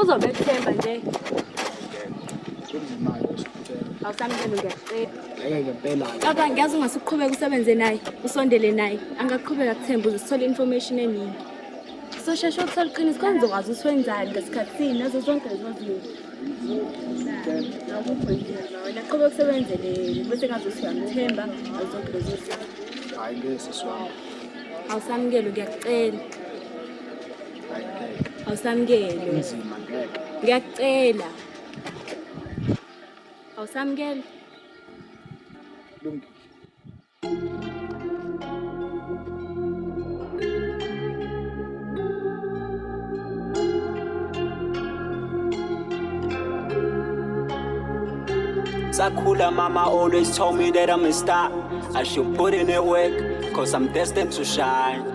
Uzobethemba nje. Kodwa ngiyazi ungase uqhubeke usebenze naye, usondele naye. Angaqhubeka kuthemba uze sithole information eningi. Sosheshe ukuthola iqiniso kodwa ngizokwazi ukuthi wenzani ngesikhathini nazo zonke lezo zinto. Wena qhubeka usebenzele bese ngazi ukuthi uyamthemba nazo zonke lezo zinto. Hayi ngeke siswami. Awusamukele ngiyakucela. awusamukele kunzima ngeke ngiyakucela awusamukele lungile Sakula mama always told me that I'm a star. I should put in a work, cause I'm destined to shine.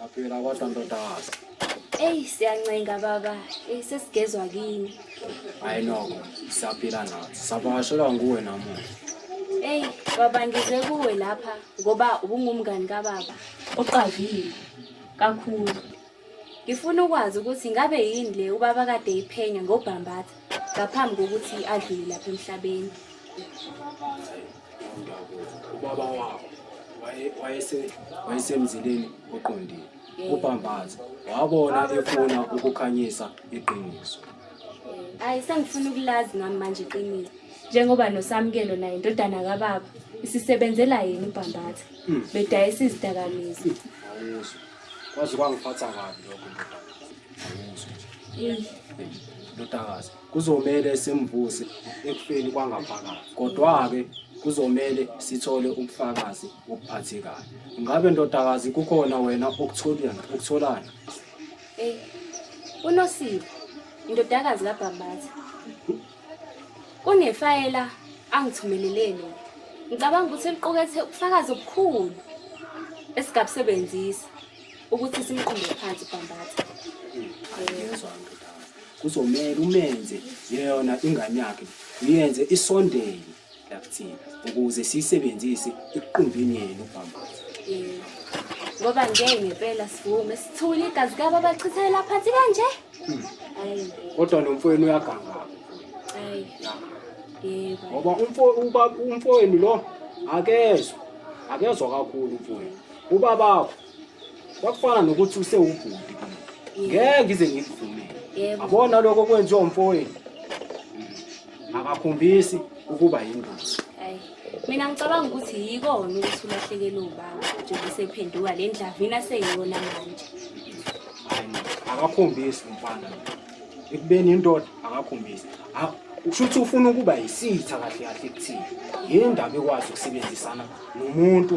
Yaphela kodwa ntodazi. Eyi siyancenga baba, eyi sesigezwa kini. Hayi noko, siyaphila nathi. Savakashelwa nguwe namuhla. Eyi baba ngize kuwe lapha ngoba ubungumngani kababa. Uqavile kakhulu. Ngifuna ukwazi ukuthi ngabe yini le ubaba kade iphenya ngobhambatha ngaphambi kokuthi adlule lapha emhlabeni. Hayi, ubaba wakho wayesemzileni oqondile ubhambaza wabona efuna ukukhanyisa iqiniso hayi sengifuna ukulazi ngami manje iqiniso njengoba nosamukelo naye indodana kababa isisebenzela yini ubhambatha hmm. bedayisa izidakamizwa kwaze kwangiphatha kabi lokho ndodakazi Kuzomele simvuse ekufeni kwangaphakathi. Kodwa-ke kuzomele sithole ubufakazi obuphathekayo. Ngabe ndodakazi kukhona wena okutholana okutholana? Ey, uNosipho, indodakazi kaBhambatha. Kunefayela angithumelele lona. Ngicabanga ukuthi liqukethe ubufakazi obukhulu esingabusebenzisa ukuthi simqonde phansi uBhambatha. Angiyezwa nto. kuzomele umenze yona ingane yakhe uyenze isondele la kuthina ukuze siyisebenzise ekuqumbini yenu ubhambaza ngoba ngeke ngempela sivume sithule igazi kabo abachithela phansi kanje hayi kodwa nomfowenu uyaganga hayi yebo ngoba umfo ubaba umfowenu lo akezwa akezwa kakhulu umfowenu ubabakho kwakufana nokuthi usewubhuti ngeke ngize ngikuvumele abona lokho kwenziwa umfowenu akakhombisi ukuba yingozi mina ngicabanga ukuthi yikona ukuthi ulahlekelwe ubaba njengoba usephenduka le ndlavina seyiyona manje akakhombisi umfana ekubeni indoda akakhombisi usho ukuthi ufuna ukuba yisitha kahle kahle kuthini yini ndaba ekwazi ukusebenzisana nomuntu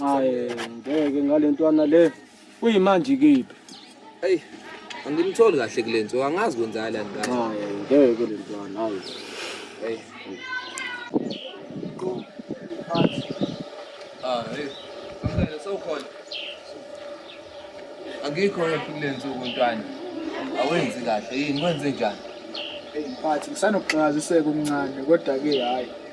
Hayi ngeke ngalentwana le. Uyimanje kiphi? Hey, angimtholi kahle kulento. Angazi kwenzala la ngane. Hayi ngeke lentwana. Hayi. Hey. Ah, hey. Mfana sewukhona. Angikho kulento kuntwana. Awenzi kahle. Yini wenze njani? Hey, mphathi ngisanokuxakaziseka umncane kodwa ke hayi.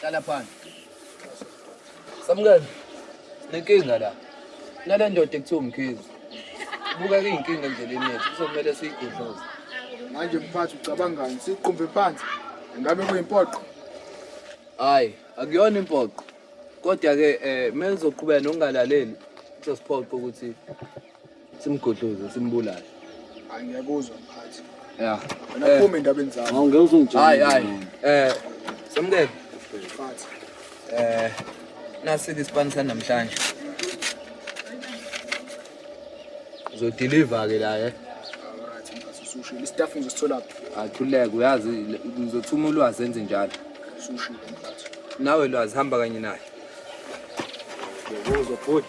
Hlala phansi. Samukela. Nenkinga la. Nale ndoda ekuthiwa umkhizi. Buka kuyinkinga endleleni yethu. Kuzokumele siyigudluze. Manje mphathi ucabangani? Siqumbe phansi. Ngabe kuyimpoqo? Hayi, akuyona impoqo. Kodwa ke eh melizoqhubeka nokungalaleli kuzosiphoqa ukuthi simgudluze simbulale angiyakuzwa mphathi ya wena eh. phuma endabeni zami awungeke uzungitshela hayi hayi eh samukele mphathi eh nasi isipani sanamhlanje uzodeliver ke la eh usushilo istaff ngizosithola athuleke uyazi ngizothuma ulwazi enze njalo usushilo mphathi nawe lwazi hamba kanye naye yebo uzobhuti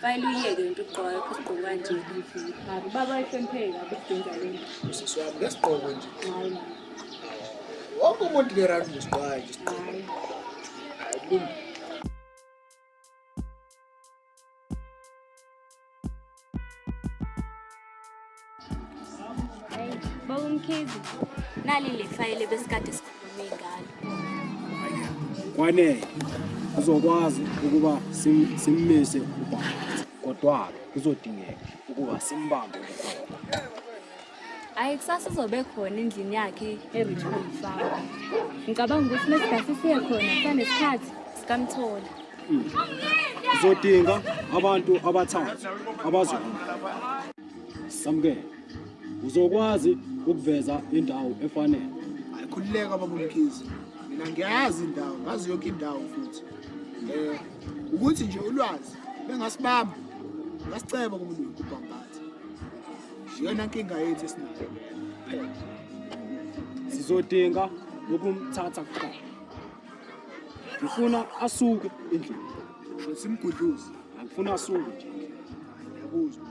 Fayile uyeke into ugqoka lokho isigqoko kanje. Hayi baba isempheke kabi ukudinga lento. Sisi wami ngesigqoko nje. Hayi la. Wonke umuntu ngerandi ngesigqoko nje. Hayi. Hayi kulungile. Baba Mkhize, nali le fayile besikade sikhulume ngalo. Kwanele uzokwazi ukuba sim- simmise ubaba kodwa kuzodingeka ukuba simbambe ukhona. Hayi kusasa uzobe khona endlini yakhe e-Richmond Farm. Ngicabanga ukuthi mesigasi siye khona kusanesikhathi sikamthola. Uzodinga abantu abathathu abazohamba. Samukele. Uzokwazi ukuveza indawo efanele. Hayi khululeka baba Mkhize. Mina ngiyazi indawo, ngazi yonke indawo futhi. Eh ukuthi nje ulwazi bengasibamba. Ngasiceba kumuntu ubhambathi. Yona nkinga yethu esinayo. Sizodinga ukumthatha kuqala. Ngifuna asuke endlini. Sho simgudluze. Angifuna asuke nje. Ngiyakuzwa.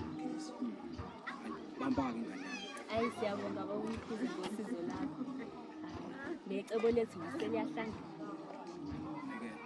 Bamba-ke ngane. Ayi siyabonga bakumkhize ngosizo lakho. Necebo lethu ngiseliyahlangana.